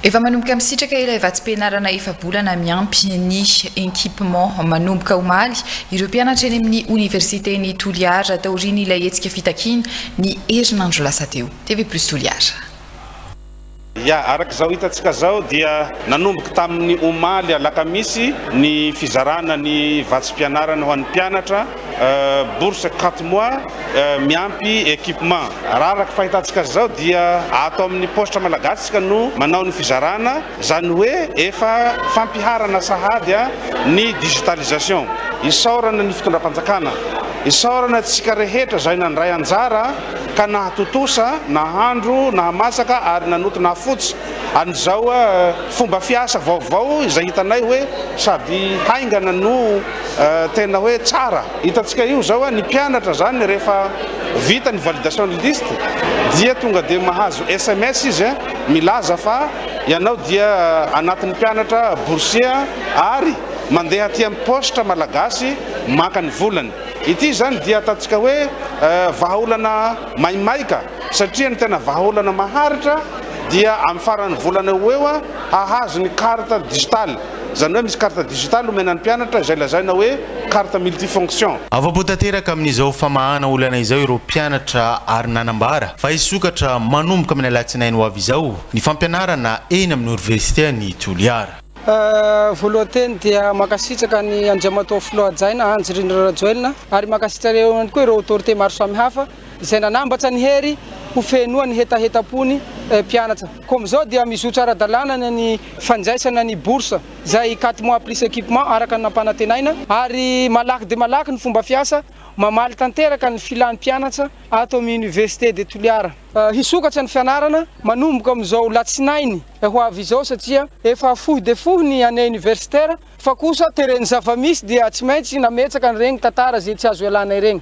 Efa manomboka misitraka ilay vatsim-pianarana efa-bolana miampy ny equipement manomboka omaly ireo mpianatra eny amin'ny oniversiten'i Toliara taorian'ilay hetsika fitakiana ny herinandro lasa teo. TV Plus Toliara. Ya, araka izao hitantsika izao dia nanomboka tamin'ny omaly alakamisy ny fizarana ny vatsim-pianarana ho an'ny mpianatra. bourse quatre mois miampy equipement. Raha araka fahitantsika azy izao dia ato amin'ny paositra malagasy isika no manao ny fizarana, izany hoe efa fampiharana sahady ny digitalisation. Isaorana ny fitondram-panjakana, isaorana antsika rehetra izay nandray anjara ka nahatontosa, nahandro, nahamasaka ary nanoto nahafotsy an'izao fomba fiasa vaovao izay hitanay hoe sady haingana no tena hoe tsara. Hitantsika io zao ny mpianatra zany rehefa vita ny validation ny liste dia tonga dia mahazo sms izy milaza fa ianao dia anatin'ny mpianatra boursier ary mandeha aty amin'ny poste malagasy maka ny volany. Ity zany dia ataontsika hoe vahaolana maimaika satria ny tena vahaolana maharitra dia amin'ny faran'ny volana eo ho eo hahazo ny carte digitale. Izany hoe misy carte digitale omena ny mpianatra izay lazaina hoe carte multifonction. Afa-po tanteraka amin'izao famahana olana izao ireo mpianatra ary nanambara fa hisokatra manomboka amin'ny alatsinainy ho avy izao ny fampianarana eny amin'ny Oniversite an'i Toliara. Voalohan teny dia mankasitraka an'i Andriamatoa Filoha Hajaina Andry Rindra Rajoelina ary mankasitraka ihany koa ireo autorité maro samihafa. izay nanambatra an'i Hery ho fenoany hetahetam-pony mpianatra. Koa amin'izao dia mizotra ara-dalàna ny ny fandraisana ny bourse izay quatre mois plus équipement araka ny nampanantenaina ary malaky dia malaky ny fomba fiasa mamaly tanteraka ny filan'ny mpianatra ato amin'ny Université de Toliara. Hisokatra ny fianarana manomboka amin'izao latsinainy ho avy izao satria efa fohy dia fohy ny année universitaire fa kosa teren'ny zava-misy dia tsy maintsy nametraka an'ireny tantara izay tsy azo ialana ireny.